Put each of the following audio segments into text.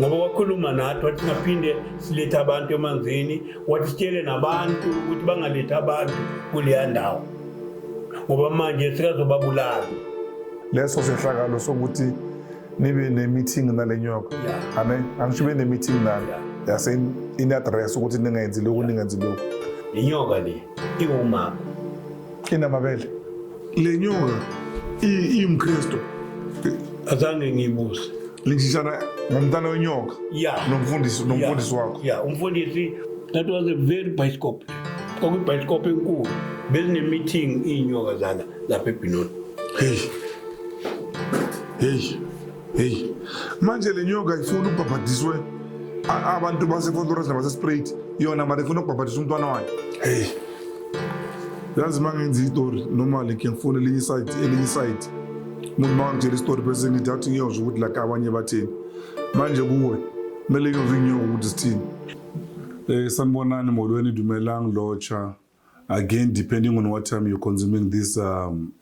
ngoba wakhuluma nathi wathi singaphinde silethe abantu emanzini wathi sitshele nabantu ukuthi bangalethi abantu kuleya ndawo ngoba manje sikazobabulala leso sehlakalo sokuthi nibe ne-meeting nale nyoka ane angisho ube ne-meeting nalo yase in-address ukuthi ningenzi lokhu ningenzi lokhu le nyoka le iwumama inamabele le nyoka imkristu azange ngiyibuze linjishana ngomntana wenyoka yeah. nomfundisi nomfundisi yeah. wakho yeah. umfundisi that was a very bioscope kwakuyibhayisikopho enkulu bezinemeeting iy'nyoka zana lapha ebhinoni heyi heyi heyi manje le nyoka ifuna ubhabhadiswe abantu basefontorasi nabasesprate yona mara ifuna ukubhabhadisa umntwana wayo heyi yazi uma ngenza itori normally ke ngifuna elinye isayidi elinye isayidi umuntu uma ngitshela isitori bese ngithi athi ngiyozwa ukuthi like abanye bathini manje kuwe kumele ngiyozwa inyoka ukuthi sithini um sanibonani molweni dumelang lotsha again depending on what time you're consuming this um,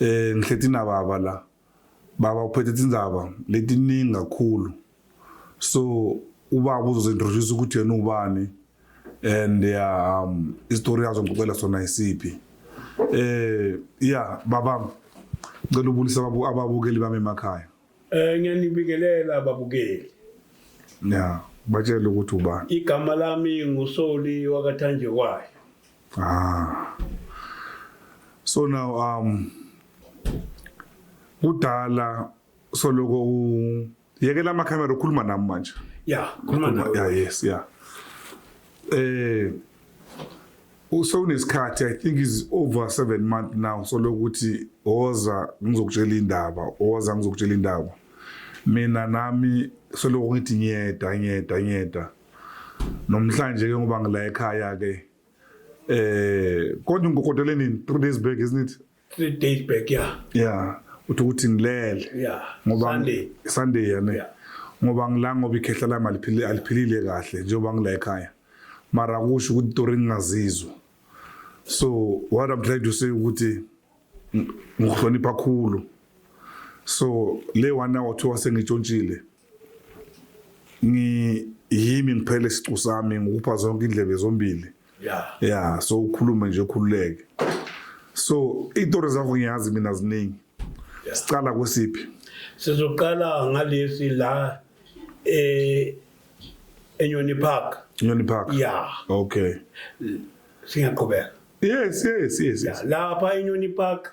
Eh ngihleti na baba la. Baba uphethe tindzaba letiningi kakhulu. So ubaba uzozintroduce ukuthi yena ubani and yeah, um istory yazo ngicela sona isiphi. Eh yeah baba ngicela ubulisa ababukeli bami emakhaya. Eh ngiyanibingelela babukeli. Na, batshela ukuthi ubani. Igama lami nguSoli wakathanjekwayo. Ah. So now um kudala soloko u yekela ama camera ukhuluma nami manje. Yeah, khuluma nawe. Yeah, yes, yeah. Eh usewunesikhathi i think is over seven month now solokuthi woza ngizokutshela indaba woza ngizokutshela indaba mina nami soloku ngithi ngiyeda ngiyeda ngiyeda nomhlanje ke ngoba ngila ekhaya ke eh kodwa ngikokotele nini 3 days back isn't it 3 days back yeah yeah uthi ukuthi ngilele yeah ngoba Sunday Sunday yane yeah. ngoba ngila ngoba ikhehla lami aliphilile aliphilile kahle njengoba ngila ekhaya mara kusho ukuthi tori ngingazizwa so what i'm trying to say ukuthi ngihlonipha khulu so le one hour kuthiwa sengitshontshile ngi yimi ngiphele isicu sami ngikupha zonke indlebe zombili yeah yeah so ukhulume nje ukhululeke so itori zakho ngiyazi mina ziningi sicala kwesiphi sizoqala ngalesi la eh enyoni park enyoni park yeah okay singaqhubeka yes yes yes, yes. lapha enyoni park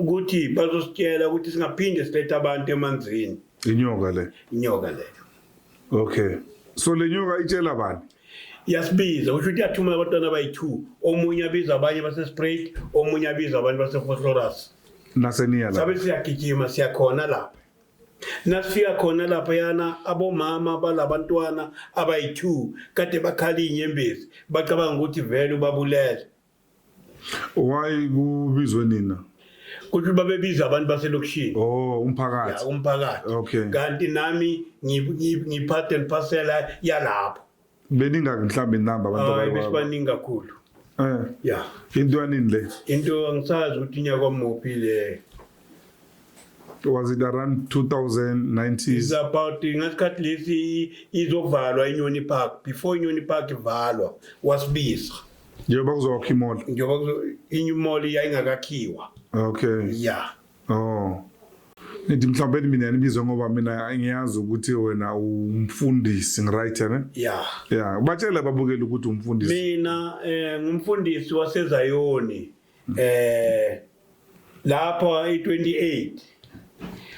ukuthi bazositshela ukuthi singaphinde silethe abantu emanzini inyoka le inyoka le okay so le nyoka itshela bani yasibiza usho ukuthi yathumela abantwana abayi-two omunye abiza abanye basesprait omunye abiza abanye basefoslorus naseniya sabe siyagijima siyakhona lapha nasifika khona lapha yana abomama balabantwana abayi-two kade bakhala iy'nyembezi bacabanga ukuthi vele ubabulele Why kubizwe nina? Kuthi babebiza abantu baselokishini. Oh, umphakathi. Ya umphakathi. Okay. Kanti nami ngiphathe ngiphasela yalapho. Beninga mhlambe inamba abantu abayi. Hayi besibaningi kakhulu. Eh. Ya. Into yanini le? Into angisazi ukuthi inyaka omuphi le. was it around 2019 is about ngasikhathi lesi izovalwa inyoni park before inyoni park ivalwa wasibiza njengoba kuzokwakha imall njengoba kuzo inye imall yayingakakhiwa okay yeah oh Ngithi mhlawumbe mina nibizwe ngoba mina ngiyazi ukuthi wena umfundisi ngiright ne? Yeah. Yeah, batshela babukele ukuthi umfundisi. Mina eh ngumfundisi waseZayoni eh lapha e28.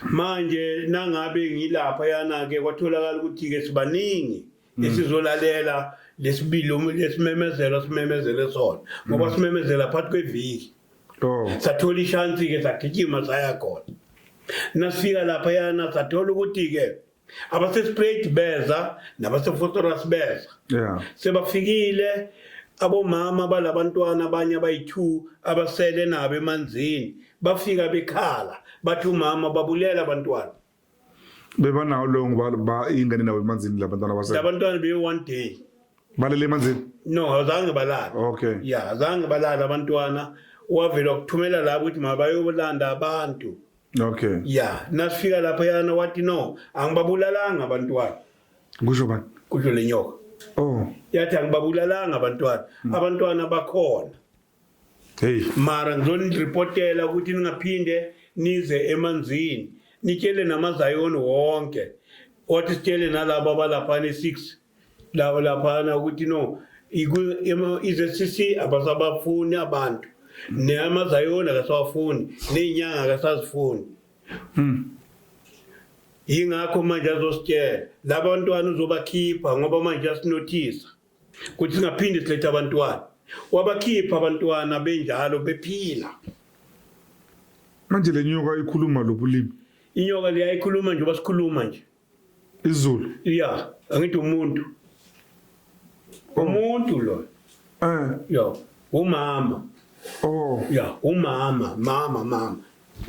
Manje nangabe ngilapha yana ke kwatholakala ukuthi ke sibaningi. Mm. esizolalela lesibili um- lesimemezelo simemezele sona ngoba simemezela phakathi kweviki Oh. sathola ishansi-ke sagijima saya khona nasifika laphayana sathola ukuthi-ke abasesprate beza nabasefotoras beza Yeah. sebafikile abomama balabantwana abanye abayi-two abasele nabo emanzini bafika bekhala bathi umama babulela abantwana bebanawo loyo ngoba ba- ingane nawo emanzini labantwana base labantwana be one day balele emanzini no azange balala okay ya azange balala abantwana wavela ukuthumela labo ukuthi mabayolanda abantu okay ya nasifika lapha yana wathi no angibabulalanga abantwana kusho bani kusho le nyoka oh yathi angibabulalanga abantwana abantwana bakhona Hey, mara ngizoniripotela ukuthi ningaphinde nize emanzini nitshele namazayoni wonke wathi sitshele nalabo abalaphana e-six labo laphana ukuthi no iku- ema- i-zcc abasabafuni abantu namazayoni akasawafuni ney'nyanga akasazifuni yingakho manje azositshela laba bantwana uzobakhipha ngoba manje asinothisa kuthi singaphinde silethe abantwana wabakhipha abantwana benjalo bephila manje lenyoka ikhuluma lobulimi inyoka liyayikhuluma nje basikhuluma nje izulu ya angithi umuntu oh. umuntu lo eh ya umama oh ya umama mama mama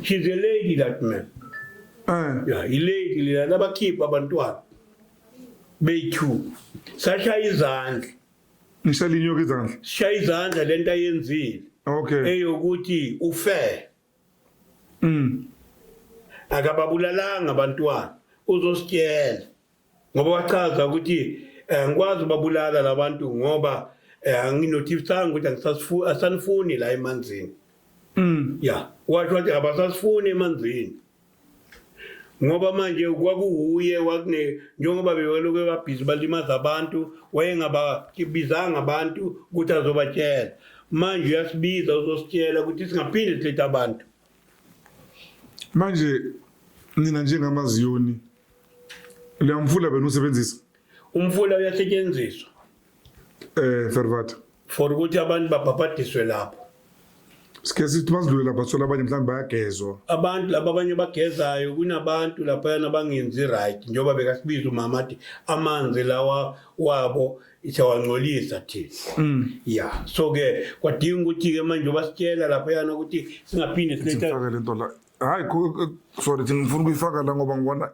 she's a lady that man eh ya ilady lena labakhipha abantwana bethu sashaya izandla nishalinyuka izandla sishaya izandla lento ayenzile okay eyokuthi ufe mm akababulalanga abantwana uzositshela ngoba wachaza ukuthi eh, ngikwazi ubabulala labantu ngoba eh, anginothifisanga ukuthi angisasifu asanifuni la emanzini mm yeah washo ukuthi abasasifuni emanzini ngoba manje kwakuwuye wakune njengoba bewaloke babhizi balimaza abantu wayengababizanga abantu ukuthi azobatshela manje uyasibiza uzositshela ukuthi singaphinde silethe abantu manje nina njengamaziyoni leyamfula benu usebenzisa umfula uyasetshenziswa Eh Fervat. For ukuthi abantu babhabhadiswe lapho. Sike sithi basidlule lapha sithola abanye mhlawumbe bayagezwa. Abantu laba abanye bagezayo kunabantu laphayana bangenzi right njengoba bekasibiza umama athi amanzi lawa wabo siyawangcolisa thina. Mm. Ya. So ke kwadinga ukuthi ke manje basitshela laphayana ukuthi singaphinde silethe Sifake lento la. Hayi ku- ku- sorry thina ngifuna ukuyifaka la ngoba ngibona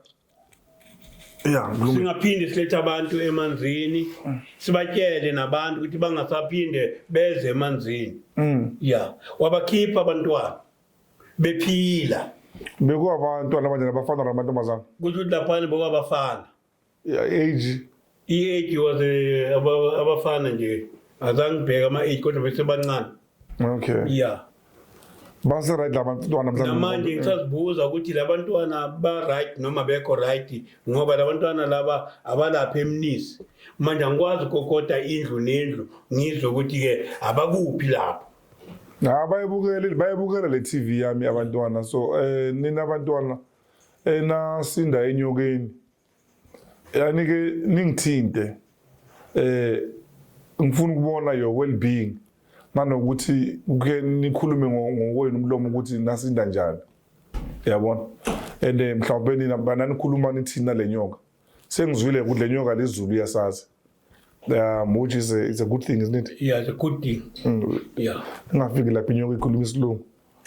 Yeah, mlungu. singaphinde silethe abantu emanzini sibatshele nabantu ukuthi bangasaphinde beze emanzini Mm. ya wabakhipha abantwana bephila Bekuwa abantwana abanye nabafana namantombazana. kusho ukuthi laphana bokwabafana Yeah, age. I-age was eh, aba- abafana nje azange ngibheke ama-age kodwa besebancane okay ya baseright labantwana mhlawumbe namanje ngisazibuza ukuthi labantwana ba-right noma bekho right ngoba labantwana laba abalapha emnisi manje angikwazi ukokota indlu nendlu ngizwe ukuthi-ke abakuphi lapho ha bayibukele bayibukela le tv yami abantwana so um nina abantwana enasinda enyokeni yani ke ningithinte eh ngifuna ukubona your well being nanokuthi kuke nikhulume ngokwenu umlomo ukuthi nasinda njani yabona and eh, mhlawumbe nina bananikhuluma nithina lenyoka sengizwile ukuthi lenyoka lezulu iyasazi um which is a, is a good thing isn't it yeah it's a good thing mm. yeah ingafiki lapha inyoka ikhuluma isilungu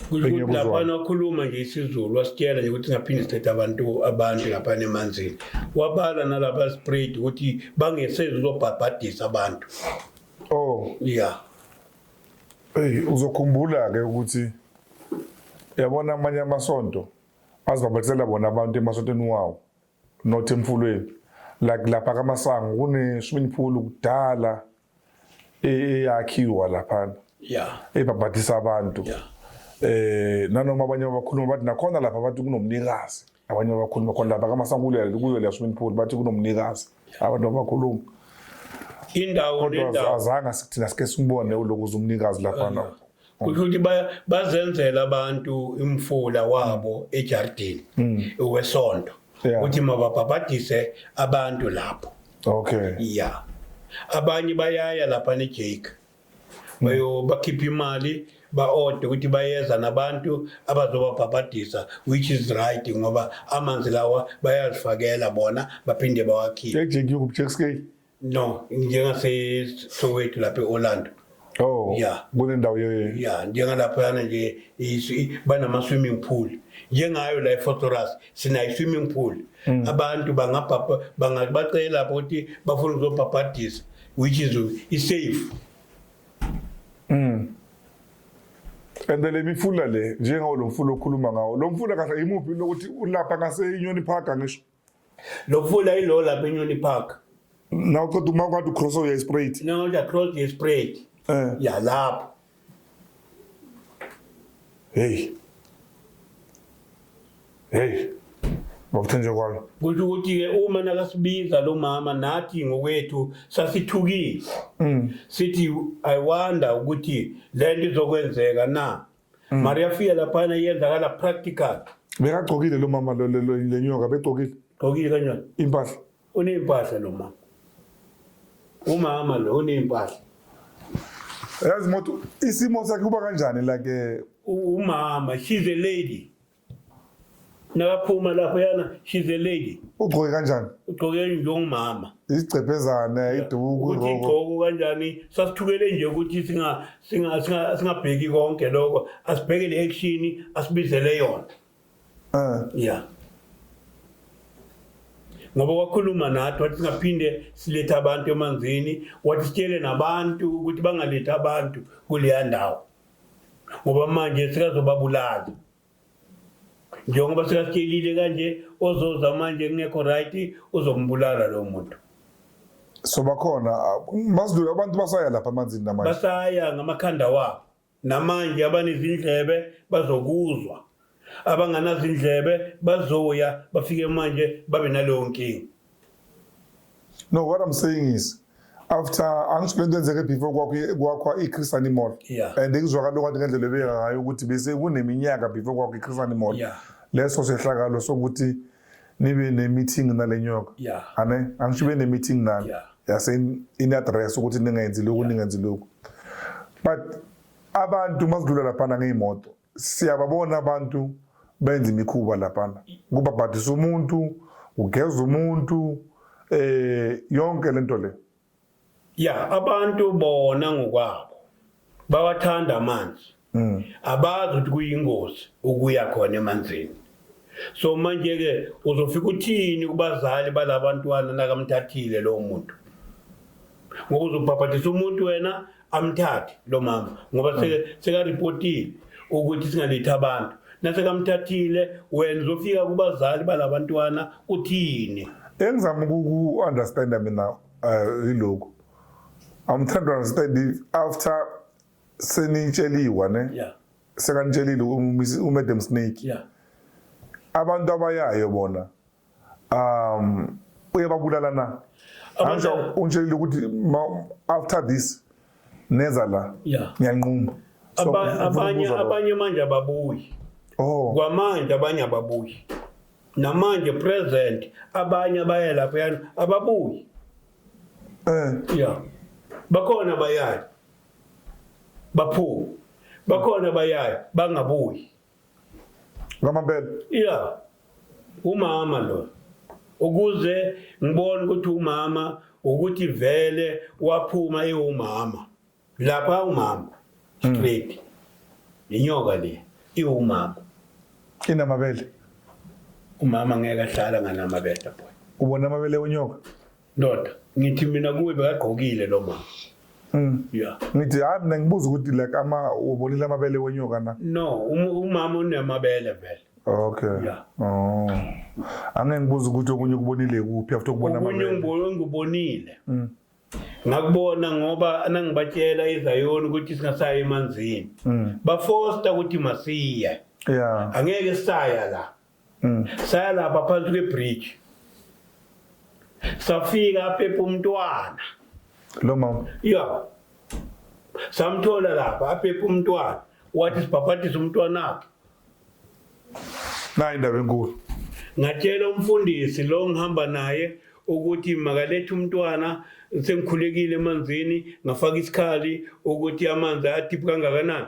kusho ukuthi laphana wakhuluma nje isizulu wasitshela nje ukuthi ngaphinde sithethe abantu abantu laphana emanzini wabala nalaba spread ukuthi bangesezi uzobhabhadisa abantu oh yeah hey uzokhumbula ke ukuthi yabona amanye amasonto azibhabhadisela bona abantu emasontweni wawo not emfulweni like lapha kamasango kuneshumini phulu kudala eyakhiwa laphana yeah ebhabhadisa abantu yeah eh nanoma abanye abakhuluma bathi nakhona lapha bathi kunomnikazi abanye abakhuluma khona lapha kamasangulela kuyo le swimming pool bathi kunomnikazi abantu abakhuluma indawo nendawo azange sithina sike simbone ulokuza umnikazi lapha kusho ukuthi bazenzela abantu imfula wabo ejardini mm. wesonto ukuthi mababhabhadise abantu lapho okay ya abanye bayaya lapha nejake bayo bakhipha imali ba-ode ukuthi bayeza nabantu abazobabhabhadisa which is right ngoba amanzi lawa bayazifakela bona baphinde bawakhiphe ejake yokujack scale No, njengaseSoweto lapha e-Orlando. Oh. Yeah. Kunendawo ye Yeah, njengalaphana nje isi- banama swimming pool. Njengayo la eFotoras sina swimming pool. Mm. Abantu bangabhabha bangabacela lapho ukuthi bafuna ukuzobhabhadisa which is is safe. Mm. And then lemifula le njengawo lo mfula okhuluma ngawo. Lo mfula kahle imuphi lokuthi ulapha ngase Union Park ngisho. lokuvula ilo lapha enyoni park nawuqeda uma kwathi ucross uye straight nawuya cross ye straight eh ya lapho hey hey ngokuthenje kwalo kusho ukuthi-ke uma nakasibiza lo mama nathi ngokwethu sasithukile mm. sithi i wonder ukuthi le nto izokwenzeka na Mm. Mari yafika laphana iyenzakala practical. Bekagcokile lo mama lo- lo- lo- le nyoka begcokile Gqokile kanjani? impahla. Uney'mpahla lo mama. Umama lo uney'mpahla. Yazi moto isimo sakhe kuba kanjani like eh, U- Umama, she's a lady. nakaphuma lapho yana she's a lady ugqoke kanjani ugqoke njengomama isigcebhezane iduku ukuthi igqoko kanjani sasithukele nje ukuthi singa singa singabheki konke lokho asibheke le action asibizele yona eh yeah ngoba wakhuluma nathi wathi singaphinde silethe abantu emanzini wathi sitshele nabantu ukuthi bangalethi abantu kuleya ndawo ngoba manje sikazobabulala njengoba sikasitshelile kanje ozoza manje kungekho right uzombulala lo muntu so bakhona masidlule abantu basaya lapha amanzini namanje basaya ngamakhanda wabo namanje abanezindlebe bazokuzwa abanganazindlebe bazoya bafike manje babe naleyo nkinga no what i'm saying is after angisho lento enzeke before kwakhwa i-chris animal yeah. and ngizwakala okwathi ngendlela ebeka ngayo ukuthi bese kuneminyaka before kwakhwa i-chris animal yeah. leso sehlakalo sokuthi nibe ne-meeting nale nyoka yeah. ane angisho ibe ne-meeting nani yeah. yase in-address ukuthi ningenzi lokhu yeah. ningenzi lokhu but abantu masidlula laphana ngey'moto siyababona abantu benza imikhuba laphana kubabhadisa umuntu ugeza umuntu eh yonke lento le ya abantu bona ngokwabo bawathanda amanzi mm. abazi ukuthi kuyingozi ukuya khona emanzini so manje ke uzofika uthini kubazali balabantwana nakamthathile lo muntu ngoba uzobhabhadisa umuntu wena amthathi lo mama ngoba sekaripotile ukuthi singalethi abantu nasekamthathile wena uzofika kubazali balabantwana uthini engizama ukuku-understanda mina um yilokhu i'm trying to understand if after senitsheliwa ne yeah. sekanitshelile umadam snake yeah. abantu abayayo bona um uyababulala na angisho ungitshelile ukuthi after this neza la ngiyanquma abanye abanye manje ababuyi oh. kwamanje abanye ababuyi namanje present abanye abaye lapho yani ababuyi eh yeah bakhona bayaya baphume bakhona bayaya bangabuyi Ngamampela. Yeah. Umama lo. Ukuze ngibone ukuthi umama ukuthi vele waphuma ewumama. Lapha umama. Hmm. Straight. Inyoka le iwumama. Inamabele. Umama ngeke ahlala nganamabele boy. Ubona amabele onyoka? ndoda ngithi mina kuwe bekagqokile lo mama mm. ya ngithi hayi mina ngibuza ukuthi like ama ubonile amabele wenyoka na no umama unamabele vele okay ya oh ange ngibuza ukuthi okunye ukubonile kuphi after ukubona amabele okunye ngibonile mm. ngakubona ngoba nangibatshela izayoni ukuthi singasayi emanzini mm. bafosta ukuthi masiye ya angeke saya la mm. saya lapha phansi kwebridge safika aphepha umntwana lo mama ya samthola lapha aphepha umntwana wathi sibhabhadise umntwana wakhe nayi indaba enkulu ngatshela umfundisi lo ngihamba naye ukuthi makalethe umntwana sengikhulekile emanzini ngafaka isikhali ukuthi amanzi atiphi kangakanani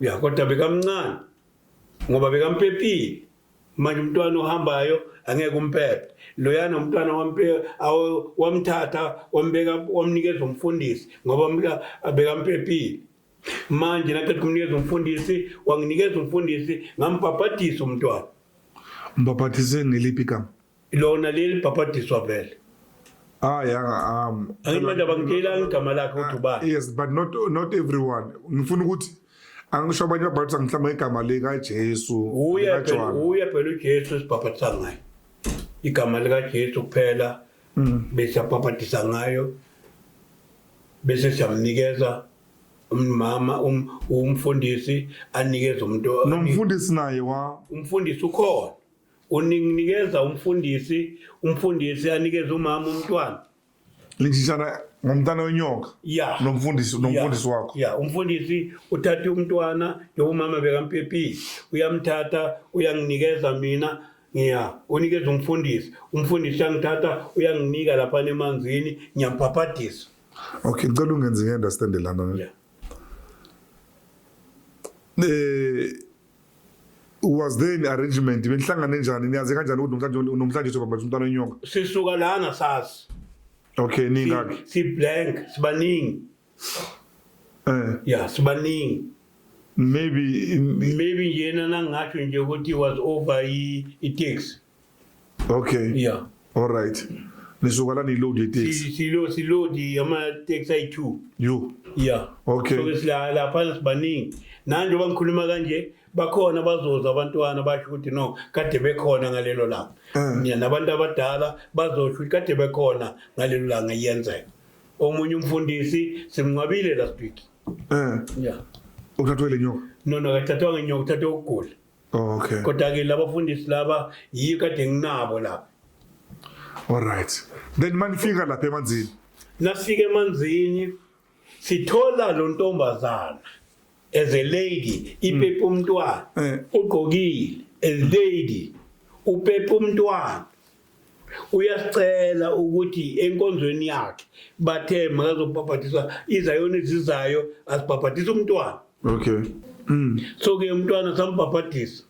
ya kodwa bekamncane ngoba bekampepile manje umntwana ohambayo angeke umpepe loyana umntwana wamthatha wambeka wamnikeza umfundisi ngoba bekampepile manje naqeda kumnikeza umfundisi wanginikeza umfundisi ngambhabhadisa umntwana umbhabhadise ngeliphi igama lona leli bhabhadiswa vele hayi ah, anga ah, am ayimanje abangitshela igama lakhe ukuthi ah, ubani yes but not not everyone ngifuna ukuthi angisho abanye babhadisa mhlawumbe igama likajesu uye phela uye phela ujesu esibhabhadisa ngayo igama likajesu kuphela mm. bese abhabhadisa ngayo bese siyamnikeza umama um, umfundisi anikeza umuntu nomfundisi naye wa umfundisi ukhona unikeza umfundisi umfundisi anikeze umama umntwana lishishana ngomntana wenyoka ya nomfundisi nomfundisi wakho ya umfundisi uthatha umntwana njengoumama bekampepile uyamthatha uyanginikeza mina ngiya unikeza umfundisi umfundisi uyangithatha uyanginika lapha nemanzini ngiyamphaphadisa okay ngicela ungenze ngi-understande lana yeah. um eh, was there in arrangement benihlangane njani niyazi kanjani ukuthi namhlanje unomhlanje uthi baba umntana wenyoka sisuka lana sazi okay ningaki si blank sibaningi eh yeah sibaningi maybe maybe yena nangasho nje ukuthi was over i taxi Okay. Yeah. All right. Nisuka la niload yeteksi. Si- Silo silodi ama-taxi ayi-two. You. Yeah. Okay. So sila lapha sibaningi. Nanje bangikhuluma kanje bakhona bazoza abantwana basho ukuthi no kade bekhona ngalelo langa. Mm. Yeah, nabantu abadala bazosho ukuthi kade bekhona ngalelo langa iyenzeka. Omunye umfundisi simnqabile last week. Eh. Yeah. Uthathwe le nyoka. No no kathathwa ngenyoka uthathe ukugula. okay kodwa ke labafundisi laba yiyo kade nginabo la all right then manifika lapha emanzini nasike emanzini sithola lo ntombazana as a lady ipepe umntwana eh. ugqokile as lady upepe umntwana uyasicela ukuthi enkonzweni yakhe bathe makazobhabhadiswa izayona ezizayo azibhabhadisa umntwana okay mm. so ke umntwana sambhabhadisa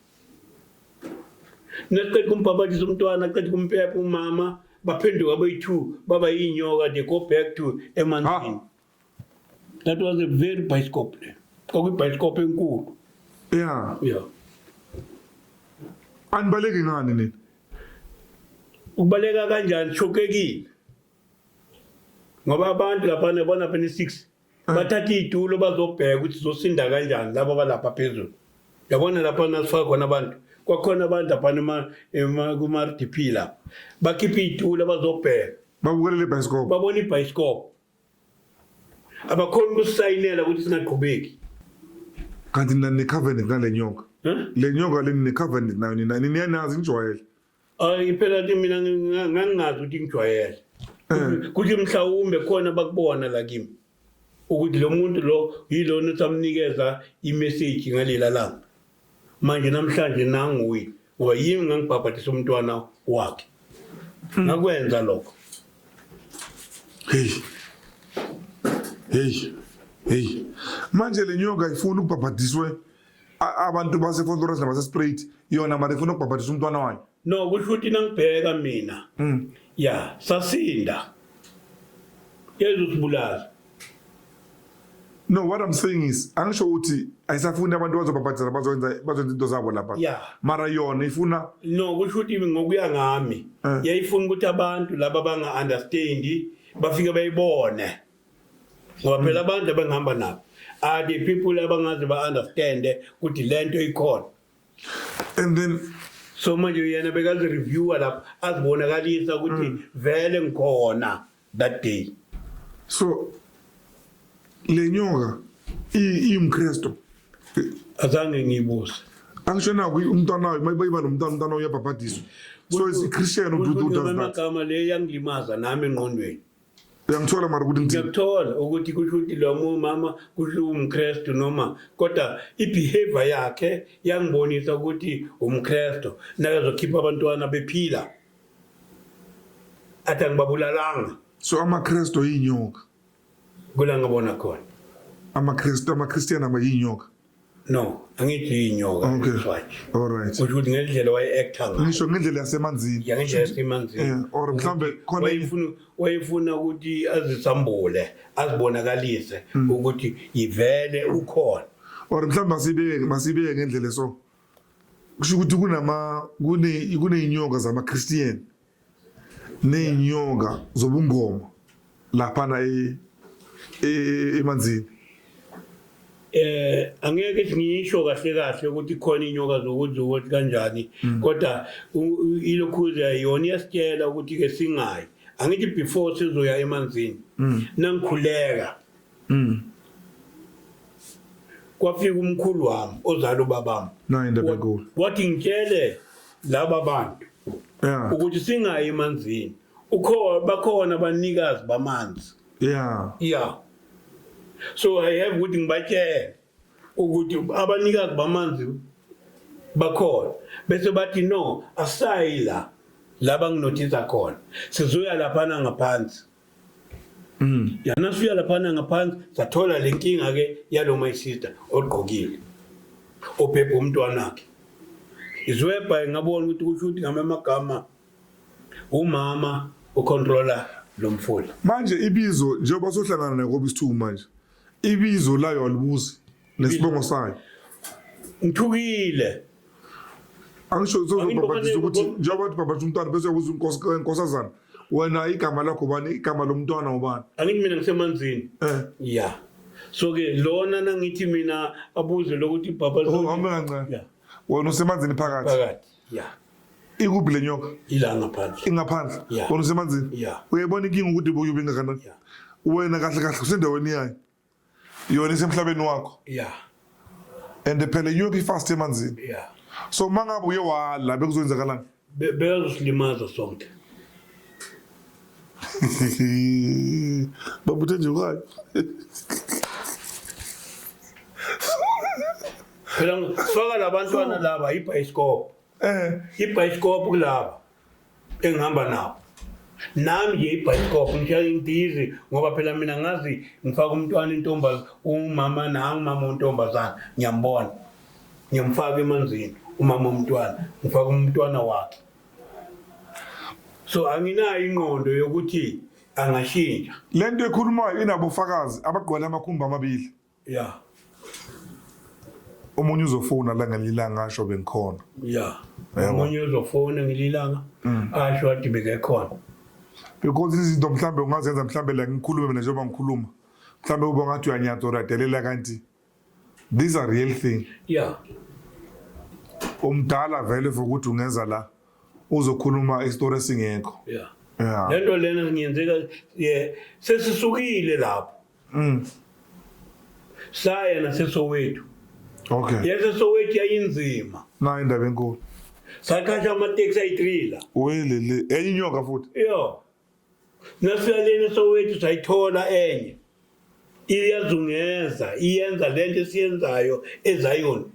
nesiqeda kumbhabhadisa umntwana qeda kumpepa umama baphenduka bayi-two baba yinyoka they go back to emanzini ah. That was a very bicycle. Kwakwi bicycle enkulu. Yeah. Yeah. Anibaleki ngani nini? Ukubaleka kanjani shokekile. Ngoba abantu lapha nebona phela 6 ah. bathatha itulo bazobheka ukuthi zosinda kanjani labo balapha phezulu. Yabona lapha nasifaka khona abantu. Kwakhona abantu lapha ema kuma RDP la. Bakhipha itulo bazobheka. Babukele le bicycle. Babona ibhayisikobho. abakhona ukusayinela ukuthi singaqhubeki kanti nina ninecovenant nale nyoka le nyoka le ninecovenant nayo nina niyanazi nijwayele ayi phela ke mina ngangingazi ukuthi ngijwayele eh. kuthi mhlawumbe khona bakubona la kimi ukuthi lo muntu lo yilona samnikeza imeseji ngalela langa manje namhlanje nanguye ngoba yimi ngangibhabhadisa umntwana wakhe hmm. ngakwenza lokho heyi heyi heyi manje le nyoka ifuna ukubhabhadiswe abantu basefontoras nabasesprate yona mara ifuna ukubhabhadisa umntwana wayo no kusho ukuthi nangibheka mina mm. ya sasinda yeza usibulali no what i'm saying is angisho ukuthi ayisafuni abantu bazobhabhadela bazowenza bazowenza into zabo lapha yeah. mara yona ifuna no kusho ukuthi ngokuya ngami eh. yayifuna ukuthi abantu laba banga-understand bafike bayibone ngoba phela mm. abantu abangihamba nabo are the people abangazi ba-understande ukuthi le nto ikhona and then so manje yena bekazireviewa lapho azibonakalisa ukuthi Mm. vele ngikhona that day so le nyoka i- iyimkristu azange ngiyibuse angisho naku umntwana wayo mayiba nomntwana umntwana uyabhabhadiswa so is christian ududu does that amagama le yangilimaza nami engqondweni uyangithola mara ukuthi ngithini ngiyakuthola ukuthi kusho ukuthi lo mama kusho umkrestu noma kodwa i-behavior yakhe yangibonisa ukuthi umkrestu nakazokhipha abantwana bephila athi angibabulalanga so amakrestu yinyoka kula ngibona khona amakrestu amakristiyana amayinyoka no angithi yinyoka Okay. iswaji all right kusho ukuthi ngendlela waye-actor ngayo ngisho ngendlela yasemanzini ya ngendlela yasemanzini Eh, or mhlambe khona wayefuna wayefuna ukuthi azisambule azibonakalise Hmm. ukuthi yivele ukhona or mhlawumbe masibeke masibeke ngendlela so kusho ukuthi kunama kune kuneyinyoka zama-christian ney'nyoka zobungoma laphana e, e, e, emanzini eh angeke ngisho kahle kahle ukuthi khona inyoka zokuthi ukuthi kanjani mm. kodwa ilokhuza yona iyasitshela ukuthi ke singayi angithi before sizoya emanzini mm. nangikhuleka Mm. Kwafika umkhulu wami ozala ubabami. Naye ndabekulu. Wathi ngitshele laba bantu yeah. ukuthi singayi emanzini ukhona bakhona abanikazi bamanzi yeah yeah so i have ukuthi ngibatshele ukuthi abanikazi bamanzi bakhona bese bathi no asayi la laba nginothisa khona sizoya laphana ngaphansi Mm. Yana suya laphana ngaphansi sathola lenkinga ke yalo my sister ogqokile. Obhebha umntwana wakhe. Izwebha ngabona ukuthi kusho ukuthi ngama amagama umama ucontroller lo mfula. Manje ibizo njengoba sohlangana nayo kobe isithuku manje. Ibizo layo alibuzi. nesibongo sayo ngithukile angisho uzozobhabhadisa ukuthi njengoba bathi bhabhadisa umntwana bese yakuza inkosazana wena igama lakho bani igama lomntwana ubani angithi mina ngisemanzini eh. ya so ke lona nangithi mina abuze lokuthi bhaba oh, hambe kancane wena usemanzini phakathi phakathi ya ikuphi le nyoka ila ngaphandle ingaphandle wena usemanzini uyayibona inkinga ukuthi uyobe ingakanani wena kahle kahle usendaweni yayo yona isemhlabeni wakho yeah and phela iyobe ifast emanzini yeah so mangabe uye wala bekuzoyenzakalani beyazosilimaza sonke babuthe nje kwayo phela faka labantwana laba ibhayisikobho eh ibhayisikobho kulaba engihamba nawo nami nje ibhayisikobho ngishaya intizi ngoba phela mina ngazi ngifaka umntwana intombaz umama nangu umama ontombazana ngiyambona ngiyamfaka emanzini umama omntwana ngifaka umntwana wakhe so anginayo ingqondo yokuthi angashintsha lento ekhulumayo inabofakazi abagqwala amakhumbi amabili Yeah. Omunye uzofona la ngelilanga asho bengikhona. Yeah. Omunye uzofona ngelilanga mm. asho athi bekekhona. Because izinto mhlambe ungazenza mhlambe la ngikhulume mina njengoba ngikhuluma. Mhlambe uba ngathi uyanyatha or adelela kanti these are real thing. Yeah. Umdala vele for ukuthi ungenza la uzokhuluma isitori esingekho. Yeah. Yeah. Lento lena ngiyenzeka sesisukile lapho. Mm. Saya naseSoweto. Okay. YaseSoweto yayinzima. Nayo indaba enkulu. Sakhathi amateksi ayitrila. Welele, enye inyoka futhi. Yo. Nasifika lena eSoweto sayithola enye. Iyazungeza, iyenza lento esiyenzayo eZion.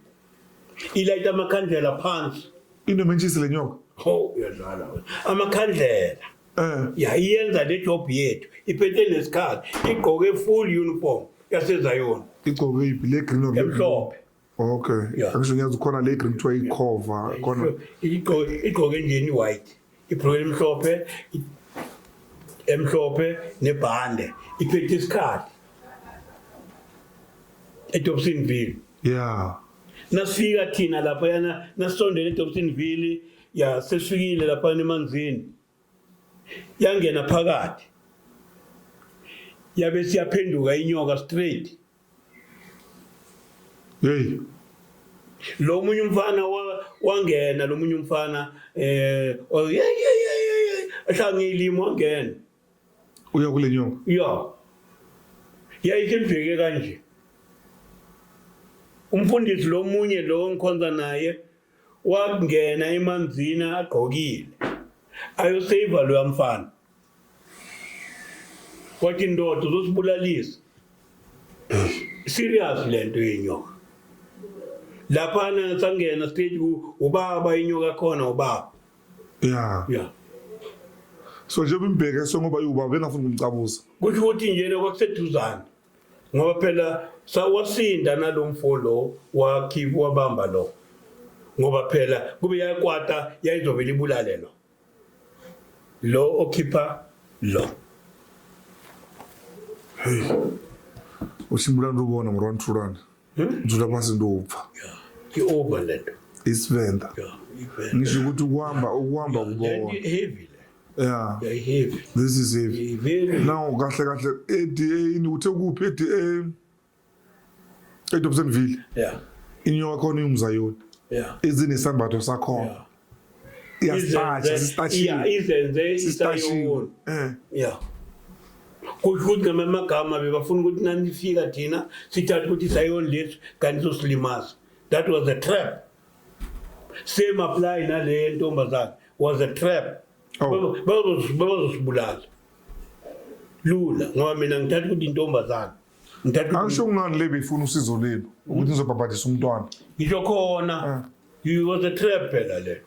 Ilayita amakhandlela phansi. Into mentshisi lenyoka. Ho, uyadlala. Amakhandlela. Eh. ya iyenza le job yethu iphethe nesikhathi igqoke full uniform yasezayona igcoke iphi le green or le blue? emhlophe okay Yeah. angisho ngiyazi khona le green kuthiwa ikhova khona Igqo- igqoke nje ni white ibhloke emhlophe i- emhlophe nebhande iphethe isikhathi edobsonville ya nasifika thina laphayana nasisondele edobsonville ya sesifikile lapha emanzini yangena phakathi yabe siyaphenduka inyoka straight hey lo munye umfana wangena lo munye umfana eh ehlangilimo wangena uya kule nyoka ya yayike mbheke kanje umfundisi lo munye lo ngikhonza naye wangena emanzini agqokile ayoseva loya mfana wathi ndoda uzosibulalisa serious lento yenyoka laphana sangena stage ubaba inyoka khona ubaba yeah yeah so njengoba imbheke sengoba iwubaba engafuni ukumcabuza kusho ukuthi njena kwakuseduzane ngoba phela sawasinda nalomfo lo wakhi wabamba lo ngoba phela kube yakwata yayizovela ibulale lo lo okhipha lo uchimbula ndi ubona mura nthulana ndzuda pasi ndi ubva ke over lento isivenda ngisho ukuthi ukuhamba ukuhamba kubona Yeah. Yeah, heavy. This is heavy. Very. Now kahle kahle eDA uthe kuphi eDA? eDobsonville. Yeah. Inyoka khona ingumzayoni. Yeah. Izinesambatho sakhona. Yeah. Iyastatsha, sistatshiwe. Yeah, izenze isayona. Eh. Yeah. kusho ukuthi ngamanye amagama bebafuna ukuthi nanifika thina sithathe ukuthi isayoni lethu kanti sosilimaza that was a trap same apply nale yentombazane was a trap Oh. bazosibulala lula ngoba mina ngithatha ukuthi intombazane ngithatha ukuthi- angisho kungani le beyifuna usizo lelo ukuthi nizobhabhadisa umntwana ngisho khona Ah. you was a trap phela le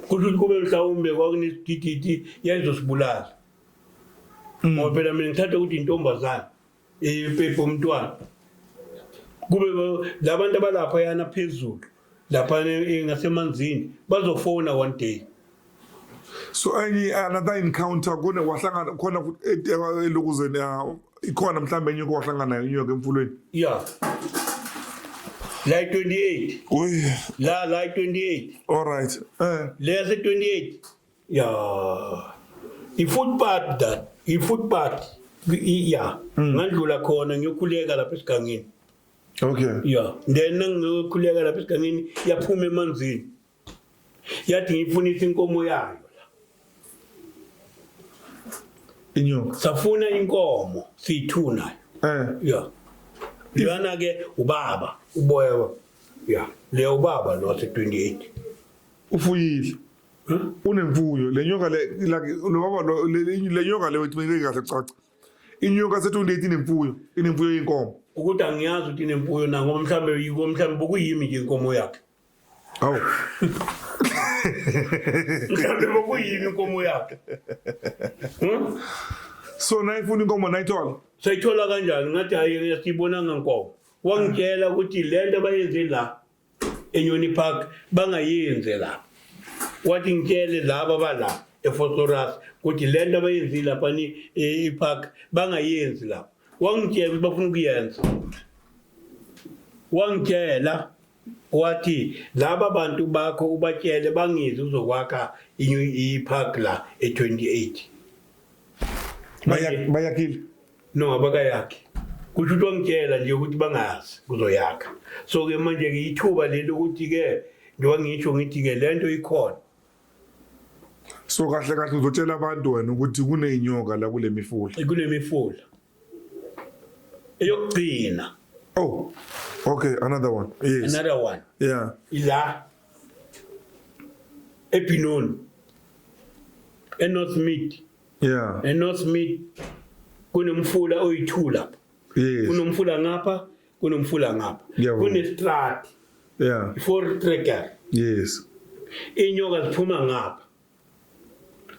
kusho ukuthi kube mhlawumbe kwakunesidididi yayizosibulala ngoba phela mina ngithatha ukuthi intombazane ipepa umntwana kube labantu abalapha yana phezulu lapha ngasemanzini bazofona one day so any another encounter kune wahlangana khona elokuzeni ikhona mhlawumbe enye kowahlangana nayo inyoka emfulweni yeah like 28 uy la like 28 all right eh leyase 28 ya i-food party that i-food party I- ya Mm. ngandlula khona ngiyokhuleka lapha esigangeni okay ya then ngiyokhuleka lapha esigangeni yaphuma emanzini yathi ngiyifunisa inkomo yayo inyoka safuna inkomo siyi-two nayo eh ya leyana ke ubaba uboya ya leya ubaba lo wase-28 ufuyile unemfuyo le nyoka le lobaba le nyoka le wethumele kahle caca inyoka se-28 inemfuyo inemfuyo yenkomo ukuthi angiyazi ukuthi inemfuyo na ngoba mhlawumbe yiko mhlawumbe bokuyimi nje inkomo yakhe awu mhlawumbe bokuyimi inkomo yakhe hmm? so nayifuna inkomo nayithola sayithola kanjani ngathi hhayi siyibonanga nkomo wangitshela ukuthi le nto abayenze la enyoni park bangayenze lapha wathi ngitshele laba bala efosorus ukuthi le nto abayenzile lapha e, ipark bangayenzi lapha wangitshela ukuthi bafuna ukuyenza wangitshela wathi laba bantu bakho ubatshele bangizi uzokwakha ipark la e-28 bayakile No abakayakhi. Kusho ukuthi wangitshela nje ukuthi bangazi kuzoyakha. So ke manje ke ithuba leli ukuthi ke njengoba ngisho ngithi ke le nto ikhona. So kahle kahle uzotshela abantu wena ukuthi kuneyinyoka la kule mifula. Kunemifula. Eyokugcina. Oh. Okay, another one. Yes. Another one. Yeah. Ila. Epinon. Enorth Mid. yeah eNorth Mid kunomfula oyithula yes kunomfula ngapha kunomfula ngapha Ngiyavuma. kunestrat yeah for trigger yes inyoka ziphuma ngapha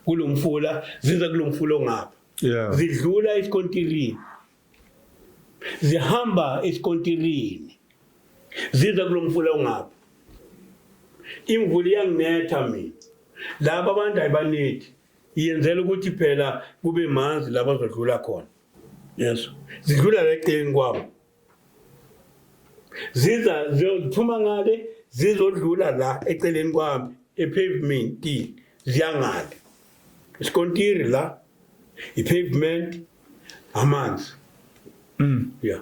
kulomfula ziza kulomfula ongapha yeah zidlula esikontirini zihamba esikontirini ziza kulomfula ongapha imvula iyanginetha mina laba abantu ayibanethi Iyenzela ukuthi phela kube manzi laba zodlula khona. Yes. Zidlula leqeni kwabo. Ziza ziphuma ngale zizodlula la eceleni kwami epavement ziyangale. Isikontiri la ipavement amanzi. Mm. Yeah.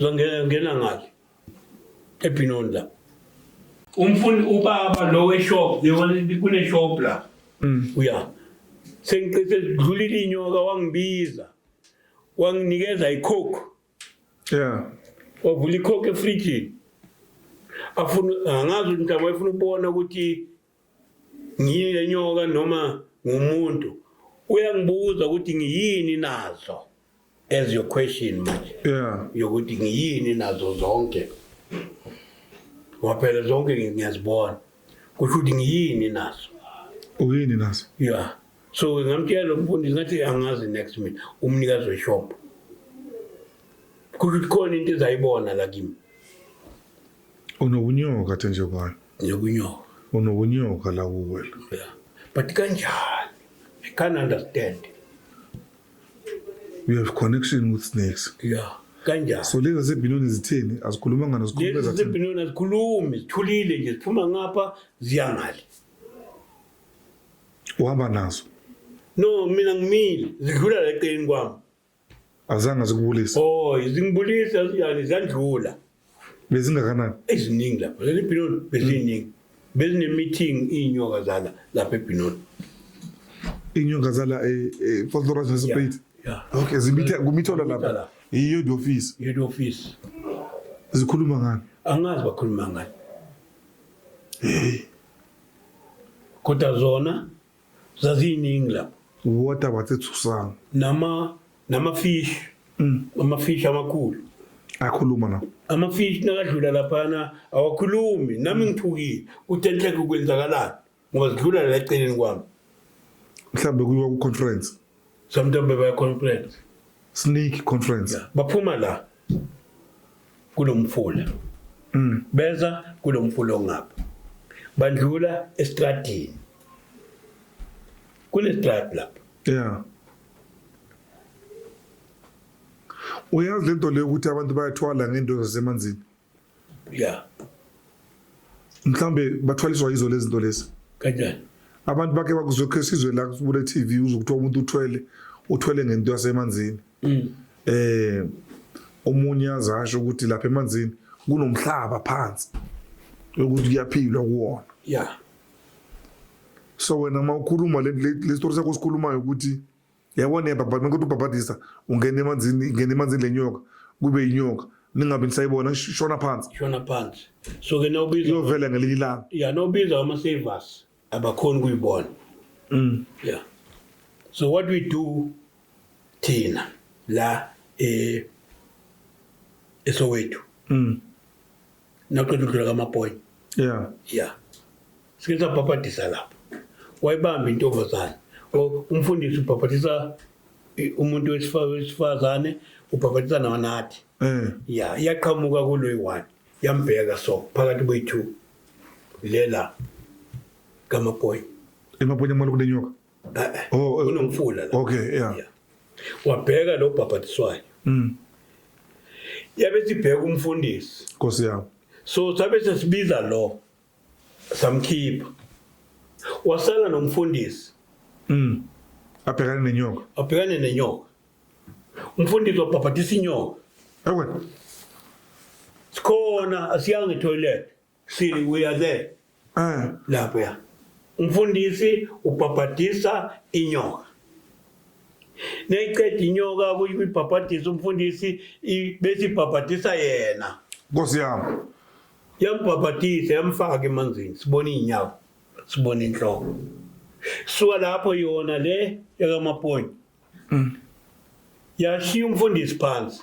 Zangena ngena ngale. Ebhinoni la. Umfuni ubaba lo weshop, yewona kune shop la. Mm. Uya. Sengiqise dlulile inyoka wangibiza. Wanginikeza icoke. Yeah. Wavula icoke efridge. Afuna angazi ukuthi awayefuna ukubona ukuthi ngiyenyoka noma ngumuntu uyangibuza ukuthi ngiyini nazo as your question manje yeah yokuthi ngiyini nazo zonke waphela zonke ngiyazibona kusho ukuthi ngiyini nazo uyini nazo yeah so ngamtshela umfundisi ngathi angazi next minute umnikazi weshop kusho ukuthi khona into ezayibona la kimi unobunyoka athe nje kwayo Ngiyokunyoka. Unokunyoka la kuwela. Yeah. But kanjani? I can't understand. You have connection with snakes. Yeah. Kanjani? So lezi zebhinoni zitheni? Azikhulumanga nazikhuluma Lezi zathini? zibhinoni azikhulumi, zithulile nje, ziphuma ngapha ziya ngale. Uhamba nazo. No, mina ngimile, zidlula la eceleni kwami. Azange zikubulisa. Oh, izingibulisa yani zandlula. Bezingakanani? Eziningi lapho. Leli Binoni beziningi. Bezine meeting inyoka zala lapha eBinoni. Inyoka zala e e Fort Lawrence House Yeah, Plate. yeah. Okay, zimitha kumithola Kumitha lapha. lapha. Yiyo the office. Head office. Zikhuluma ngani? Angazi bakhuluma ngani. Kodwa zona zaziyiningi lapho water wathi thusana nama nama fish mm. ama fish amakhulu akhuluma na ama fish nakadlula laphana awakhulumi nami mm. ngithukile kuthi enhleke ukwenzakalani ngoba sidlula la eceleni kwami mhlambe kuyiwa ku conference Somntombe baya conference. Sneak conference. Yeah. Baphuma la kulomfula. Mm. Beza kulomfula ongapha. Bandlula estradini. Kule strad lapha. Yeah. Uyazi lento leyo ukuthi abantu bayathwala ngento zasemanzini. Yeah. Mhlambe bathwaliswa yizo lezi zinto lezi. Kanjani? Abantu bake bakuzokhe sizwe la kule TV uzokuthiwa umuntu uthwele uthwele ngento yasemanzini. Mm. Eh omunye azasho ukuthi lapha emanzini kunomhlaba phansi ukuthi kuyaphilwa kuwona. Yeah. So wena mawukhuluma le story sakho sikhulumayo ukuthi yabona yena bhabhati mekuthi ubhabhadisa ungena emanzini ingena emanzini le nyoka kube yinyoka ningabe nisayibona shona phansi shona phansi so ke nawubiza iyovela ngelinye ilanga ya nawubiza ama savers abakhona kuyibona mm yeah so what we do thina la eh esowethu mm naqeda udlula kamaboy yeah yeah sike sabhabhadisa lapho wayibamba intombazane umfundisi ubhabhadisa umuntu wesifazane ubhabhadisa nawanathi eh. ya iyaqhamuka kulo yi-one yambheka so phakathi kwe-two lela kamaboy emaboy amane kulenyoka Oh, oh, kunomfula la okay yeah wabheka lo bhabhatiswayo mm yabe sibheka umfundisi nkosi yami so sabe sesibiza lo samkhipha wasala nomfundisi mm abhekane nenyoka abhekane nenyoka umfundisi wabhabhatisa inyoka ewe sikhona asiyanga etoilet Siri, we are there. Eh. Lapha. Umfundisi ubhabhadisa inyoka. Neyiqeda inyoka kuyibhabhadisa umfundisi bese ibhabhadisa yena. Nkosi yami. Yambhabhadisa yamfaka emanzini sibona izinyawo sibona inhloko. Suka lapho yona le yakamaponyi. Mm. Yashiya umfundisi phansi.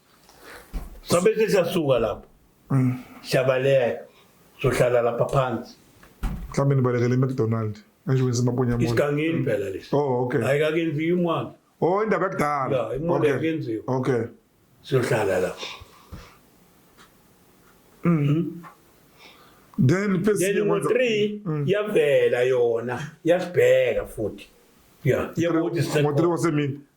sabe sesiyasuka lapho mm. siyabaleka sohlala lapha phansi mhlawumbe nibalekele imcdonald ngisho wenza amabonyamona isigangeni phela lesi oh okay ayikakenziwa imwana oh indaba yakudala ya imwana yakenziwa okay siyohlala lapho mhm mm. then phezulu then ngo 3 mm. yavela yona yasibheka futhi yeah yebo ukuthi sisebona ngo 3 wasemini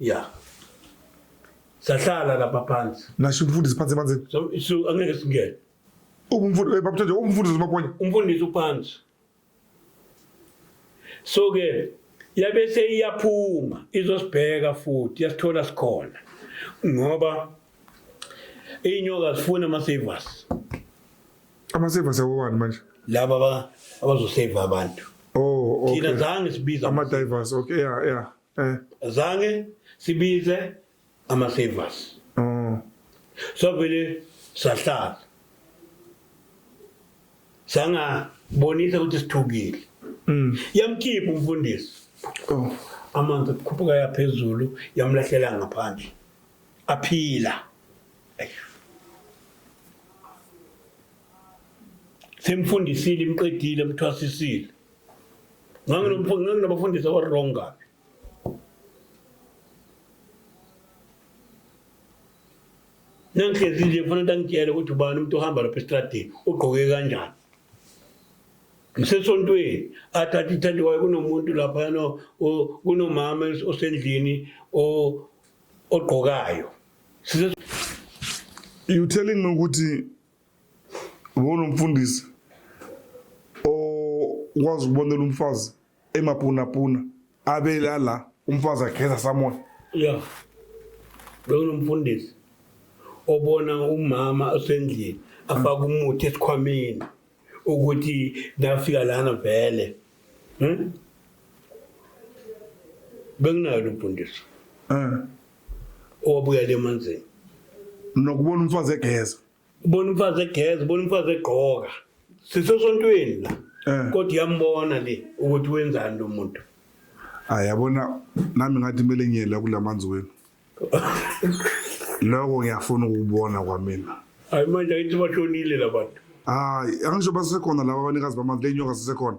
ya sahlala lapha phansi ngasho umfundisi phansi emanzini So- so angeke singene ubumfundisi eh, babutshanje umfundisi umaponya umfundisi uphansi so ke yabe seyiyaphuma izosibheka futhi yasithola sikhona ngoba iy'nyoka zifuna ama-savers amaseva sewowani manje laba aba- abazoseva abantu oh thina okay zange sibiza ama-divers okay ya ya Eh. Zange sibize ama savers. Mm. So vele sahlala. Sanga bonisa ukuthi sithukile. Mm. Yamkhipha umfundisi. Oh. Amanzi kukhuphuka yaphezulu yamlahlela ngaphandle. Aphila. Ayyo. semfundisile imqedile mthwasisile nganginabafundisi aba-wrong kabi nangihlezi nje kufanele ukuthi angitshele ukuthi ubani umuntu ohamba lapha esitradini ugqoke kanjani ngisesontweni athathe ithandiwayo kunomuntu laphayana kunomama osendlini ogqokayo you telling me ukuthi Ubona umfundisi okwazi ukubonela umfazi emapunapuna abela la umfazi ageza samoya ya bekunomfundisi obona umama osendlini afaka umuthi esikhwameni ukuthi nafika lana vele hmm? bekunayo lo mfundisi um owabuyela emanzini mina kubona umfazi egeza ubona umfazi egeza ubona umfazi egqoka sisesontweni la Eh. kodwa iyambona le ukuthi wenzani lo muntu hayi yabona nami ngathi kumele ngiyela kula manzi wenu loko ngiyafuna ukubona kwamina hayi manje ayithi bashonile labantu hayi angisho basekhona laba abanikazi bamanzi lenyoka sisekhona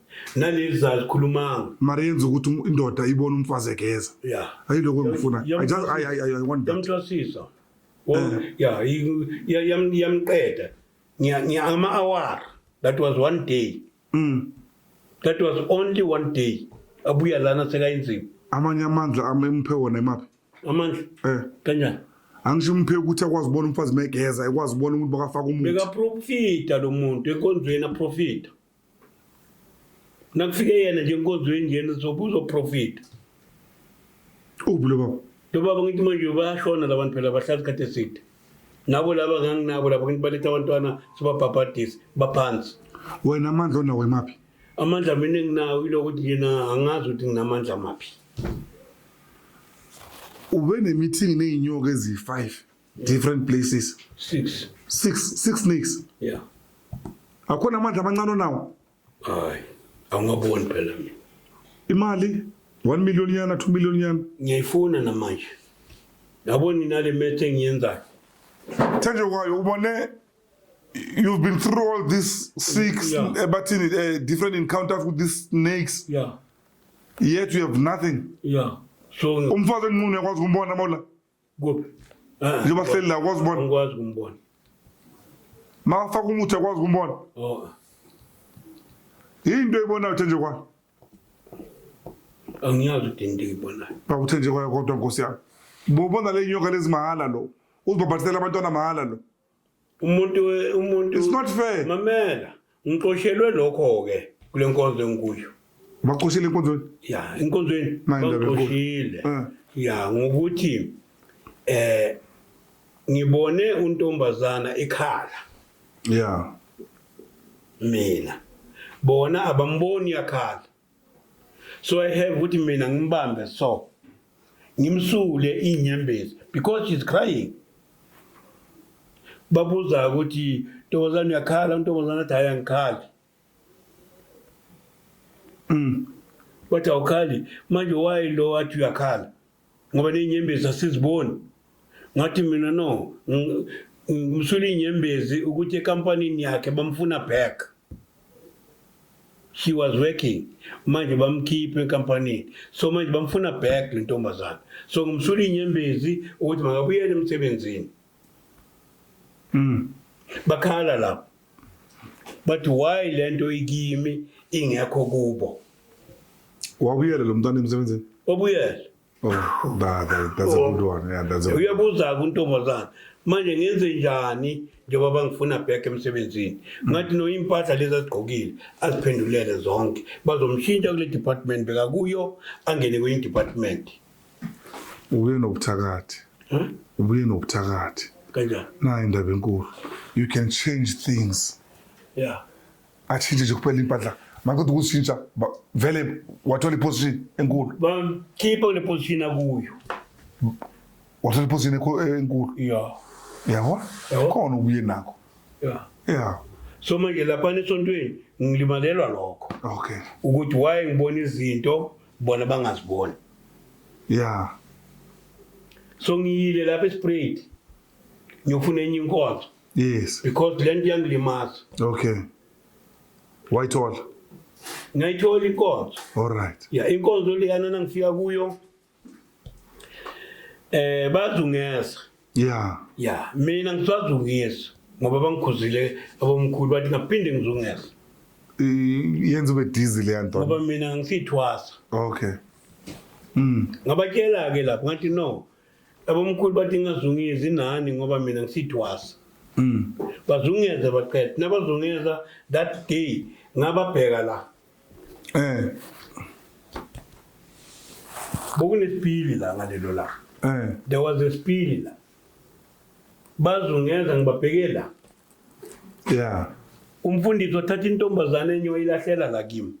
naleli zalikhulumanga mara yenza ukuthi um- indoda ibone umfazi egeza ya ayiloko engifuna Yam- I just- I- I- I- I want that. yamthwasisa Wo- Eh. ya yi- ya- yam- yamqeda Ngiya- ngiya- ama-awara that was one day Mm. that was only one day abuya lana sekayinzima amanye amandla am- emphe wona imaphi amandla um kanjani angisho umphe ukuthi akwazi ukubona umfazi megeza ekwazi ukubona umuntu bakafaka umuthi bekaprofita lo muntu enkonzweni aprofita nakufike yena nje enkonzweni njena uzoprofita uphi lo baba lo baba ngithi manje bayashona la bantu phela bahlala isikhathi eside nabo laba nganginabo laba ngithi baletha abantwana sibabhabhadise baphansi wena amandla onawo emaphi amandla mina enginawo ilokuthi yena angazi ukuthi nginamandla maphi ube nemithingi ney'nyoka eziyi-five different places six six six snakes yeah akhona amandla amancane onawo hayi awungaboni phela mina imali 1 million yana 2 million yana ngiyayifuna namanje yabo nina le methe engiyenzayo thanje kwayo ubone you've been through all these six yeah. Eh, but in uh, different encounters with these snakes yeah yet you have nothing yeah so umfazi enqunu yakwazi kumbona mola kuphi njengoba sihleli la kwazi ubona ngikwazi ukumbona makafaka umuthi akwazi ukumbona oh into eyibonayo uthenje kwani angiyazi ukuthi into eyibonayo bakuthenje kwayo kodwa nkosi yami bobona le nyoka lezimahhala lo uzibhabhatisela abantwana mahhala lo umuntu umuntu it's not fair mamela ngiqoshelwe lokho ke kule nkonzo engikuyo baxoshile enkonzweni ya enkonzweni baxoshile eh. ya ngokuthi eh ngibone untombazana ikhala ya mina bona abamboni yakhala so i have ukuthi mina ngimbambe so ngimsule inyembezi because she's crying babuza ukuthi ntombazane uyakhala untombazane athi hayi angikhali mm. bathi awukhali manje wayi lo wathi uyakhala ngoba ney'nyembezi asiziboni ngathi mina no ngimsula iy'nyembezi ukuthi ekampanini yakhe bamfuna back she was working manje bamkhiphe enkampanini so manje bamfuna back le ntombazane so ngimsula iy'nyembezi ukuthi makabuyele emsebenzini Mm. Bakhala lapho. But why lento ikimi ingekho kubo? Wabuyela lo mntana emsebenzini. Wabuyela. Oh, that, that, that's oh. a good one. Yeah, that's a good one. Uyabuza kuntombazana. Manje ngenze njani njengoba bangifuna back emsebenzini. Mm. Ngathi no impahla lezi azigqokile aziphendulele zonke. Bazomshintsha kule department bekakuyo angene kwenye department. ubuye nobuthakathi ubuye nobuthakathi kanjani nayo indaba enkulu you can change things yeah atshintshe nje kuphela impahla makuthi ukushintsha vele wathola iposition enkulu bamkhipha kule position akuyo wathola iposition enkulu yeah yabo khona ubuye nakho yeah yeah so manje lapha esontweni ngilimalelwa lokho okay ukuthi why ngibona izinto bona bangaziboni ya so ngiyile lapha esprayed ngiyofuna enye inkonzo yes because le nto iyangilimaza okay wayithola ngayithola inkonzo alright ya inkonzo leyana nangifika kuyo eh bazungeza ya ya mina ngiswazi ukuyesa ngoba bangikhuzile abomkhulu bathi ngaphinde ngizungeza I- yenza ube dizi leya nto ngoba mina ngisithwasa okay mm. ngabatshela-ke lapho ngathi no abomkhulu bathi ngingazungezi nani ngoba mina ngisithwasa Mm. bazungeza baqeda nabazungeza that day ngababheka la Eh. Bokunesipili la ngalelo la. Eh. There was a spili la. Bazungeza ngibabhekela. Yeah. Umfundisi wathatha intombazane enye wayilahlela la kimi.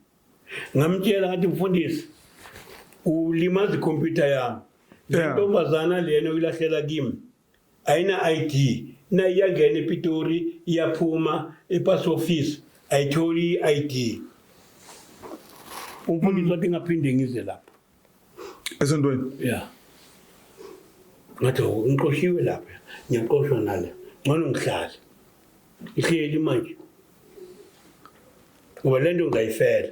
Ngamtshela ngathi mfundisi ulimaza ikhompyutha yami. Le Yeah. ntombazana lena uyilahlela kimi. ayina ID nayo iyangena ePitori iyaphuma ePass Office ayitholi i-ID umfundisi wathi ngaphinde ngize lapha esontweni ya ngathi ngiqoshiwe lapha ngiyaqoshwa nale ngcono ngihlale ngihleli manje ngoba le nto ngayifela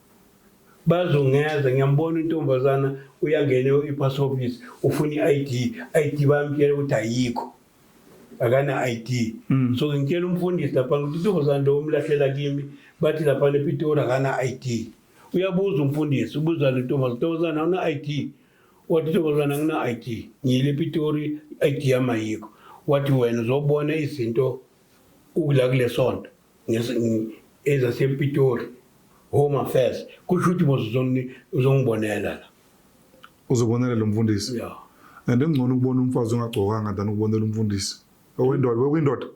bazungeza ngiyambona intombazana uyangena i-pass office ufuna i-id i-id bayamtshela ukuthi ayikho akana-id mm. so ngitshela umfundisi laphana ukuthi intombazana lo umlahlela kimi bathi laphana epitori akana-id uyabuza umfundisi ubuza le ntombazana ntombazana awuna-id wathi intombazana angina-id ngiyile epitori i-id yami ayikho wathi wena uzobona izinto ukula kule sonto ezasepitori home affairs kusho ukuthi mos uzongibonela la uzobonela lo mfundisi ya and engcono ukubona umfazi ongagcokanga than ukubonela umfundisi owendoda wekwindoda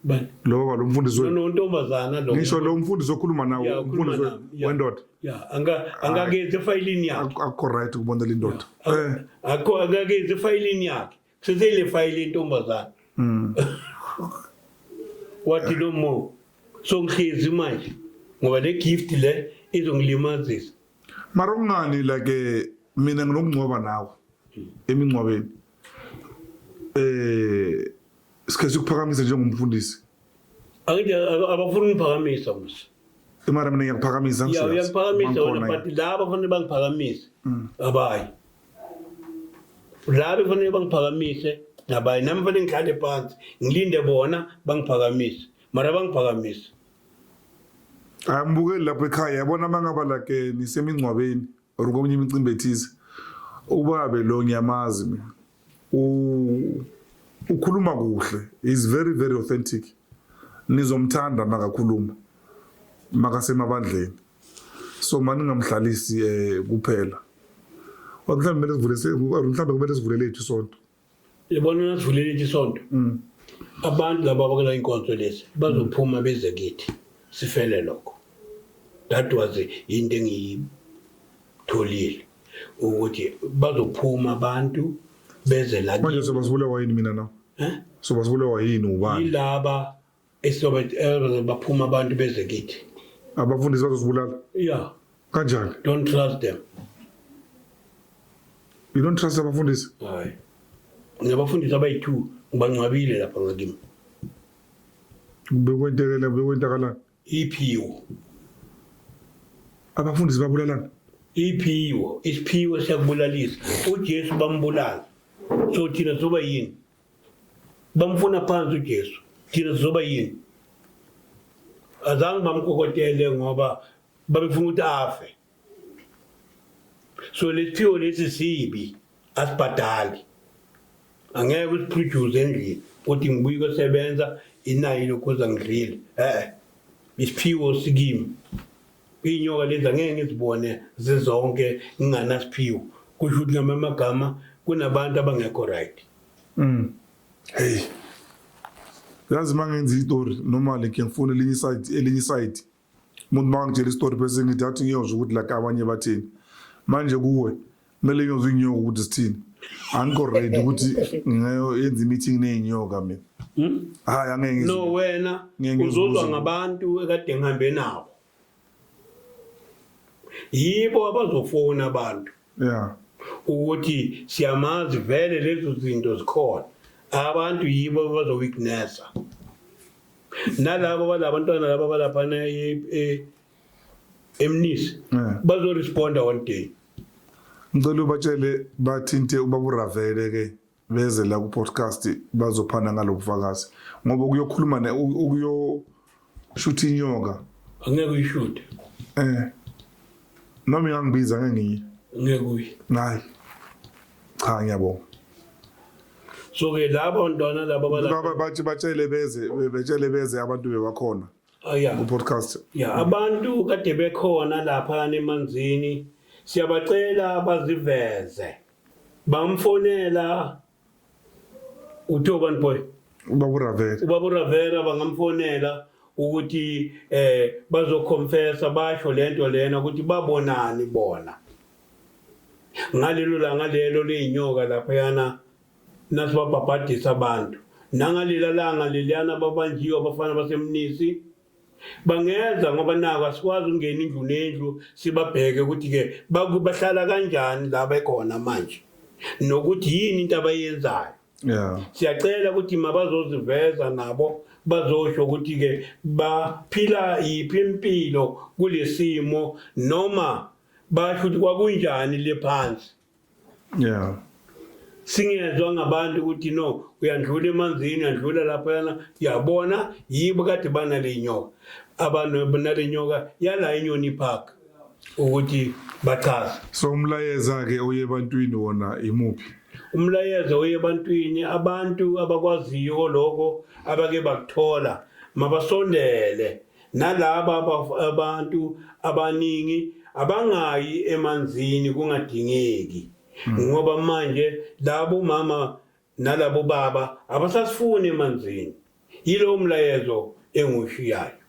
bani lo baba lo mfundisi wenu no ntombazana lo ngisho lo mfundisi okhuluma nawo umfundisi wendoda ya anga angakenze fayilini yakhe akho right ukubonela indoda eh akho angakenze fayilini yakhe seseyilefayile intombazane mm. wathi no more so ngihlezi manje ngoba le gift le izongilimazisa mara kungani like mina nginokungcwaba nawe emingcwabeni eh sikhe sikuphakamise njengomfundisi angithi abafuni ungiphakamisa mse imara mina ngiyakuphakamisa ngiyakuphakamisa wena but laba fanele bangiphakamisa mm. abayi la befanele bangiphakamise nabaye nami fanele ngihlale phansi ngilinde bona bangiphakamise mara bangiphakamise angibukeli lapho ekhaya yabona uma ngaba like nisemingcwabeni or komunye imicimbi ethize ubabe lo ngiyamazi mina ukhuluma kuhle is very very authentic nizomthanda makakhuluma makasemabandleni so mani ngingamhlalisi um kuphela mhlawumbe kumele sivule mhlawumbe kumele sivule lethu isonto yabona nasivule lethu isonto mm. abantu laba abakela inkonzo lezi bazophuma beze kithi sifele lokho that was into engiyitholile ukuthi bazophuma abantu beze la manje sobasibulawa yini mina na eh? sobasibulawa yini ubani yilaba Isihlobo elders baphuma abantu beze kithi. Abafundisi bazosibulala. Yeah. Kanjani? Don't trust them. You don't trust abafundisi? Hayi. Ngiyabafundisa abayi-2 ngibangcwabile lapha ngakimi. Bekwentekele bekwentakalani? Iphiwo. Abafundisi babulalana? Iphiwo, isiphiwo siyakubulalisa. UJesu bambulala. So thina soba yini? bamfuna phansi uJesu thina sizoba yini azange bamkokotele ngoba babefuna ukuthi afe so lesiphiwo lesi sibi asibhadali angeke usiphroduce endlini ukuthi ngibuye kosebenza inayo lokhuza ngidlile e-e isiphiwo sikimi Inyoka lezi angeke ngizibone zizonke nginganasiphiwo. Kusho ukuthi ngamanye amagama kunabantu abangekho right. Mm. Hey. Yazi mangenza istory normally ke ngifuna elinye side elinye side. Umuntu makangitshela istory bese ngithi athi ngiyozwa ukuthi la abanye bathini. Manje kuwe kumele nyoza inyoka ukuthi sithini angikho ready ukuthi ngiyenza i-meeting ney'nyoka mina hmm? hayi angeke no wena uzozwa ngabantu ekade ngihambe nabo yibo abazofona abantu ya ukuthi siyamazi vele lezo zinto zikhona abantu yibo abazowignesa nalabo balabantwana laba balaphana e, e, emnisi Eh. bazoresponda one day ngicela ubatshele bathinte ubaba uravele ke beze la ku-podcast bazophana ngalo bufakazi ngoba ukuyokhuluma ne- u- ukuyoshutha inyoka angeke uyishute eh noma ingangibiza ngengiye ngeke uyi nayi cha ngiyabonga so-ke laba bantwana laba balapha Baba- bathi batshele beze betshele beze abantu bebakhona Oh, yeah. ku-podcast ya abantu kade bekhona lapha nemanzini siyabacela baziveze bamfonela uthiwa ubani boy uba kuravele ubaba uravera bangamfonela ukuthi eh bazoconfessa basho lento lena ukuthi babonani bona ngalelo langa lelo leyinyoka lapha yana nasibabhabhadisa abantu nangalela langa leliyana babanjiwe abafana basemnisi bangeza ngoba nako asikwazi ukungena indlu nendlu sibabheke ukuthi-ke bahlala kanjani la bekhona manje nokuthi yini into abayenzayo yeah. siyacela ukuthi mabazoziveza nabo bazosho ukuthi-ke baphila yiphi impilo kulesimo noma basho ukuthi kwakunjani le phansi yeah singezwa ngabantu ukuthi no uyandlula emanzini uyandlula laphayana yabona yibo kade banale nyoka abantu banale nyoka yala inyoni park ukuthi bachaze so umlayeza ke oye ebantwini wona imuphi umlayeza oye ebantwini abantu abakwaziyo lokho abake bakuthola mabasondele Nalaba abantu abaningi abangayi emanzini kungadingeki hmm. ngoba manje labo mama nalabo baba abasasifuni emanzini yilowo mlayezo engushiyayo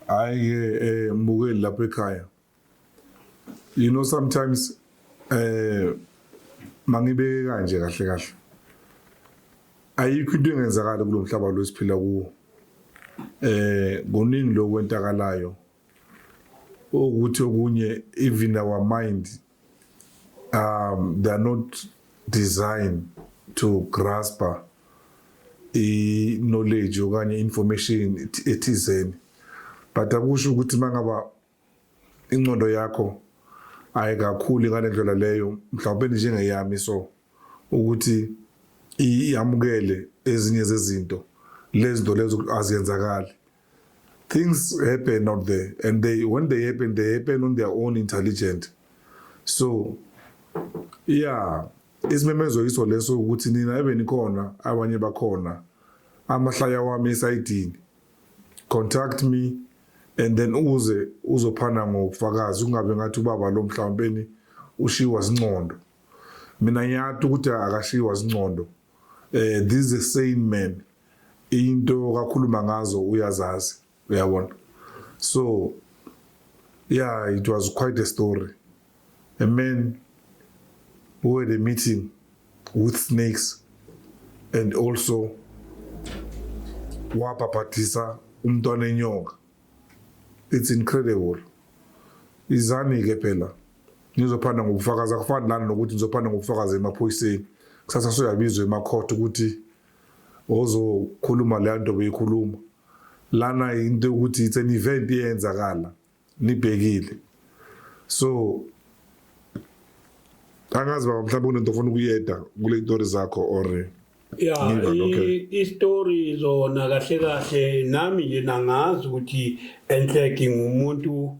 hayi-ke um eh, mbukeli lapha ekhaya you know sometimes eh mangibeke kanje kahle kahle ayikho into engenzakala kulomhlaba lo siphila kuwo eh kuningi lokwentakalayo ukuthi okunye even our mind um they are not designed to grasp i knowledge okanye information ethizeni but akusho ukuthi mangaba Ingcondo yakho ayikakhuli ngale ndlela leyo mhlawumbe njengeyami so ukuthi iyamukele ezinye zezinto lezinto lezo aziyenzakali things happen out there and they when they happen they happen on their own intelligent so yeah isimemezo yiso leso ukuthi nina ebe nikhona abanye bakhona amahlaya wami esayidini contact me and then uze uzophana ngobufakazi kungabe ngathi ubaba lo mhlawumbeni ushiwa zincondo mina ngiyati ukuthi akashiwa zincondo eh this is a sane man into kakhuluma ngazo uyazazi uyabona so yeah it was quite a story A man who had a meeting with snakes and also wabhabhadisa umntwana enyoka it's incredible izani-ke phela nizophanda ngobufakazi akufani lani nokuthi nizophanda ngobufakazi emaphoyiseni kusasa soyabizwa emakhotha ukuthi ozokhuluma leya nto beyikhuluma lana into yokuthi it's an event eyenzakala nibhekile so angazi baba mhlawumbe kunento ofuna ukuyeda kule itori zakho or ya istory zona kahle kahle nami nje nangazi ukuthi enhleki ngumuntu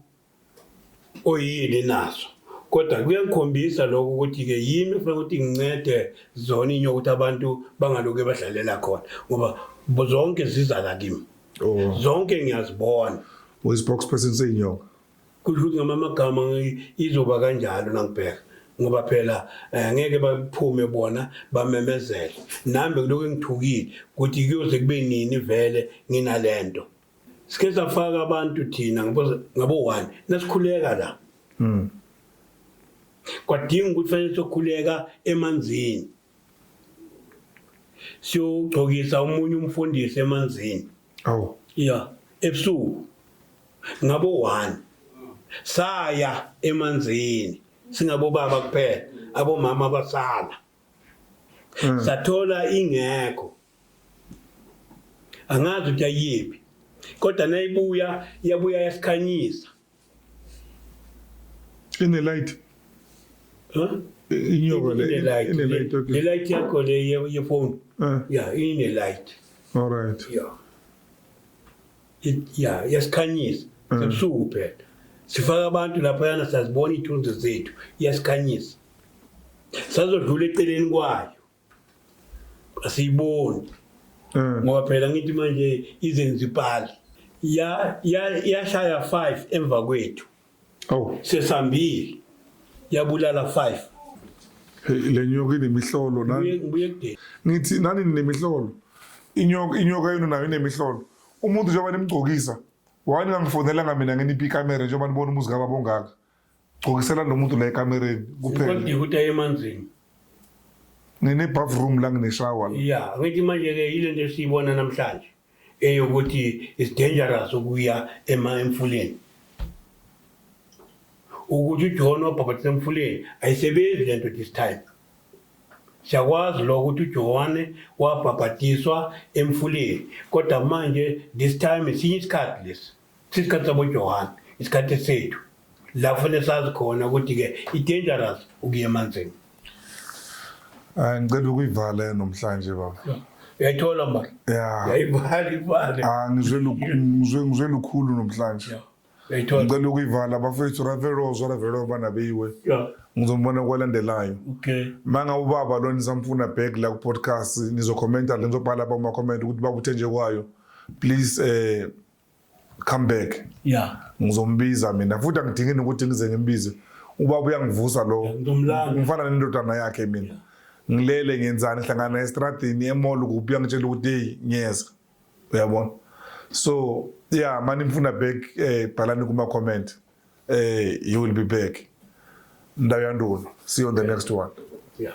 oyini naso kodwa kuyangikhombisa lokho ukuthi-ke yimi ufuna ukuthi ngincede zona inyo ukuthi abantu bangaloke badlalela khona ngoba zonke zizala kimi Oh. zonke ngiyazibona Uyi spokesperson seyinyoka. kusho ukuthi ngama amagama ngi- izoba kanjalo nangibheka ngoba phela eh, ngeke baphume bona bamemezele nami bekuloko engithukile ukuthi kuyoze kube nini vele nginalento sike safaka abantu thina ngabo- ngabo one nasikhuleka la Mm. kwadinga ukuthi fanele sokhuleka emanzini siyogcokisa omunye umfundisi emanzini awu ya ebusuku ngabo 1 saya emanzini singabo baba kuphela abomama abasala hmm. sathola ingekho angazi ukuthi ayiphi kodwa nayibuya yabuya yasikhanyisa Ine light. Huh? Inyoka le. Ine light. Ine light. Okay. Le light yakho le ye, ye phone. Uh. Yeah, ine light. All right. Yeah. It, yeah, yasikhanyisa. Uh. Sebusuku phela. Sifaka abantu lapha yana sazibona ithunzi zethu. Yasikhanyisa. Sazodlula eceleni kwayo. asiyiboni mm. ngoba phela ngithi manje izenzipali yashaya ya, ya five emva kwethu oh. sesambili yabulala five le nyoka inemihlolo ngithi nani ninemihlolo inyoka yenu nayo inemihlolo umuntu njengoba nimgcokisa why ningangifonelanga mina nginiphi ikamera njengoba nibona umuzi kababa ongaka gcokisela nomuntu la ekamereni kuphele ukuthi aye emanzini ngine-bathroom la ngineshawa ya ngithi manje-ke yile nto esiyibona namhlanje eyokuthi is dangerous ukuya emfuleni ukuthi ujohn wabhabhatisa emfuleni ayisebenzi le nto this time siyakwazi lo ukuthi ujohane wabhabhatiswa emfuleni kodwa manje this time esinye isikhathi lesi Sisikhathi saboJohane, isikhathi sethu la kufanele sazi khona ukuthi-ke i-dangerous ukuya emanzini hayi ngicela ukuyivala nomhlanje baba uyayithola mba yayivala ivale ah, ngizwe lukhulu nomhlanje ngicela ukuyivala bafethu raverozo raverozo banabeyiwe ngizombona kwalandelayo ma ngabe ubaba lo nisamfuna back la ku-podcast nizokhomenta le nizobhala bamakhomenti ukuthi babuthe nje kwayo please um come back yeah ngizombiza mina futhi angidingi ukuthi ngize ngimbize ubaba uyangivusa lo ngifana nendodana yakhe mina ngilele ngenzani hlangana estradini emall kuphi uyangitshela ukuthi hey ngiyeza uyabona so yeah mani ngifuna back eh bhalani kuma comment eh you will be back ndawo yanduna see you on the next one yeah